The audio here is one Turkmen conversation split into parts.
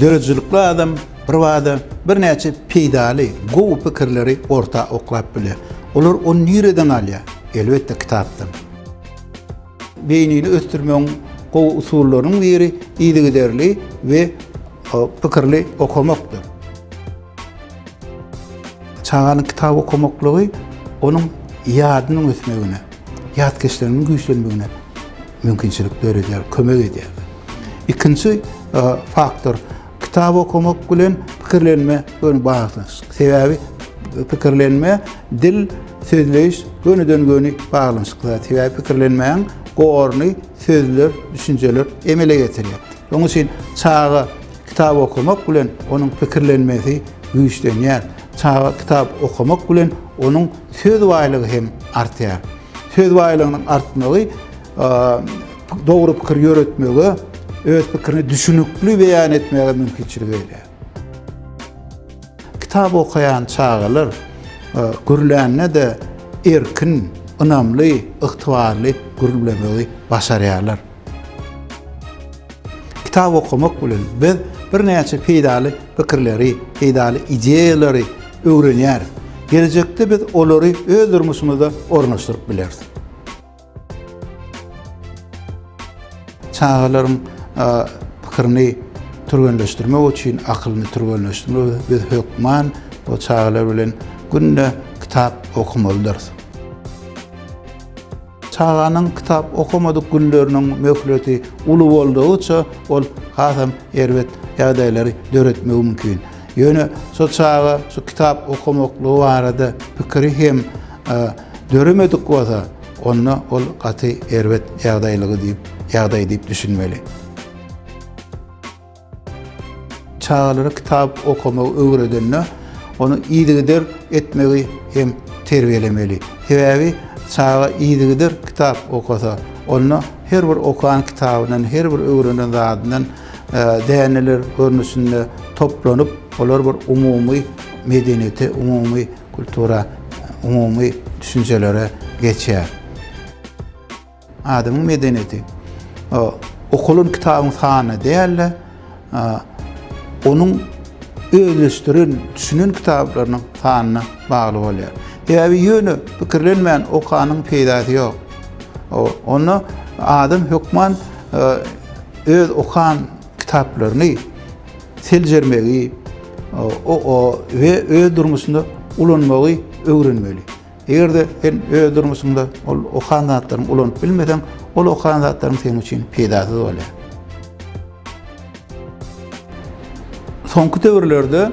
Döredijilikli adam bir bada birnäçe peýdaly, gowy pikirleri orta oklap bilýär. Olar ony nireden alýar? Elbetde kitapdan. Beýnini ösdürmegiň gowy usullarynyň biri yzygiderli we pikirli okamakdyr. Çaganyň kitap okamaklygy onuň ýadynyň ösmegine, ýat geçiliginiň güýçlenmegine mümkinçilik döredýär, kömek edýär. Ikinji faktor, kitap okamak bilen pikirlenme göni baglanyşykly. Sebäbi pikirlenme, dil, sözleýiş gönüden-göni baglanyşykly zat. Sebäbi pikirlenmäň gorny sözler, düşünjeler emele getirýär. Şonuň üçin çaga Kitap okamak bilen onuň pikirlenmesi güýçlenýär. Çaga kitap okamak bilen onuň söz baýlygy hem artýar. Söz baýlygynyň artmagy dogry pikir ýöretmege, öz pikirini düşünikli beýan etmäge mümkinçilik berýär. Kitap okaýan çagalar gürlände-de erkin, ynamly, ygtybarly gürlemegi başarýarlar. Kitap okamak bilen biz birnäçe peýdaly pikirleri, peýdaly ideýalary öwrenýäris. Gelejekde biz olary öz durmuşymyzda ornaşdyryp bileris. Çagalaryň pikirini türgenleşdirmek üçin, akylyny türgenleşdirmek üçin biz hökman bu çagalar bilen günde kitap okumaldyrys. Çaganyň kitap okamadyk günleriniň möhleti uly boldugyça, ol hasam erbet ýagdaýlary döretmegi mümkin. Ýöne şo çaga şu kitap okamaklygy barada pikiri hem döremedik bolsa, onda ol gaty erbet ýagdaýlygy diýip, ýagdaý diýip düşünmeli. Çagalara kitap okamagy öwredende, ony yzygider etmegi hem terbiýelemeli. Sebäbi çaga yzygider kitap okasa, onda her bir okan kitabyndan, her bir öwrenen zadyndan däneler görnüşinde toplanyp, olar bir umumy medeniýete, umumy kultura, umumy düşünjelere geçýär. Adamyň medeniýeti okalan kitabyň sanyna däl-de, onuň özleşdiren, düşünen kitaplarynyň sanyna bagly bolýar. Sebäbi ýöne pikirlenmän okanyň peýdasy ýok. Onda adam hökman öz okan kitaplaryny seljermegi we öz durmuşynda ulanmagy öwrenmeli. Eger-de sen öz durmuşyňda ol okan zatlaryňy ulanyp bilmeseň, ol okan zatlaryň seniň üçin peýdasyz bolýar. Soňky döwürlerde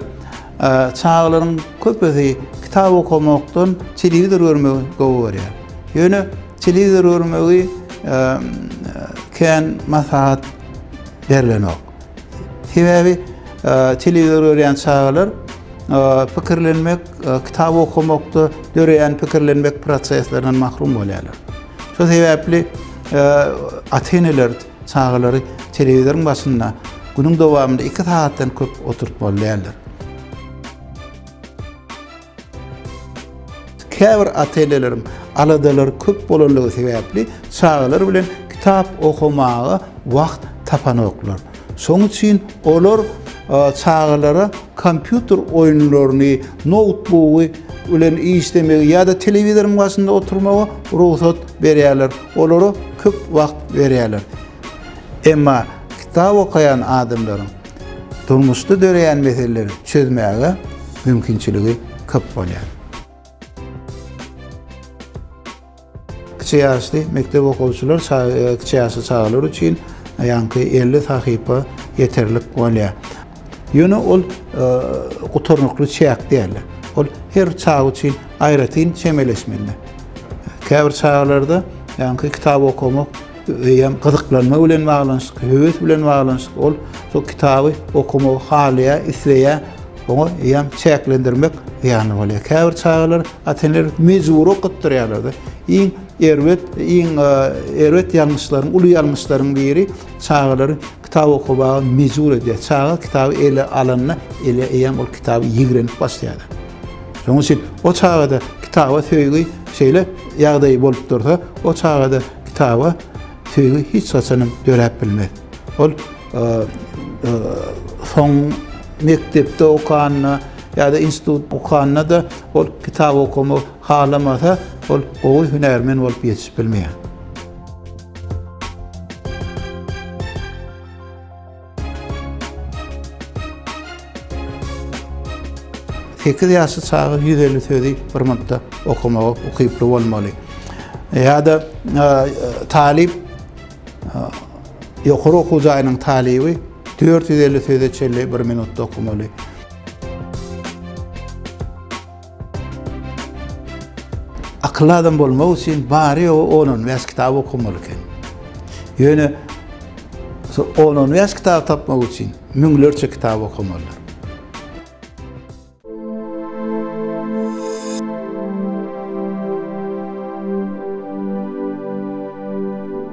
çagalaryň köpüsi kitap okamakdan telewizor görmegi gowy görýär. Ýöne telewizor görmegi kän maslahat berilenok. Sebäbi telewizor görýän çagalar pikirlenmek, kitap okamakda döreýän pikirlenmek proseslerinden mahrum bolýarlar. Şu sebäpli ata-eneler çagalary telewizoryň başynda günüň dowamynda 2 sagatdan köp oturtmaly däldir. Käbir ata-eneleriň aladalary köp bolanlygy sebäpli çagalar bilen kitap okamaga wagt tapanoklar. Şonuň üçin olar çagalara kompýuter oýunlaryny, noutbugy bilen işlemegi ýa-da telewizoryň başynda oturmagy rugsat berýärler, olara köp wagt berýärler. Emma kitap okaýan adamlaryň durmuşda döreýän meseleleri çözmäge mümkinçiligi köp bolýar. Kiçi ýaşly mekdep okuwçylar kiçi ýaşly çagalar üçin ýaňky 50 sahypa ýeterlik bolýar. Ýöne ol gutarnykly çäk däl. Ol her çaga üçin aýratyn çemeleşmeli. Käbir çagalarda ýaňky kitap okamak Eýýäm gyzyklanma bilen baglanyşykly, höwes bilen baglanyşykly ol şol kitaby okamagy halaýar, isleýär. Oňa eýýäm çäklendirmek zyýanly bolýar. Käbir çagalar ata-eneler mejbury okatdyrýarlar-da. Iň erbet, iň e, erbet ýalňyşlaryň, uly ýalňyşlaryň biri çagalary kitap okamaga mejbur edýär. Çaga kitaby ele alanda, ele eýýäm ol kitaby ýigrenip başlaýar. Şonuň üçin o çagada kitaba söýgi şeýle ýagdaý bolup dursa, o çagada Kitaba söýgi hiç haçanam döräp bilmez. Ol soň mekdepde okanda ýa-da institut okanda-da ol kitap okamak halamasa, ol gowy hünärmen bolup ýetişip bilmeýär. Sekiz ýaşly çaga ýüz elli sözi bir minutda okamaga ukyply bolmaly. Ýa-da talyp ýokary okuw jaýynyň talyby dört ýüz elli söze çenli bir minutda okamaly. Akylly adam bolmak üçin bary ýogy on on bäş kitap okamaly eken. Ýöne on on bäş kitap tapmak üçin müňlerçe kitap okamalydyr.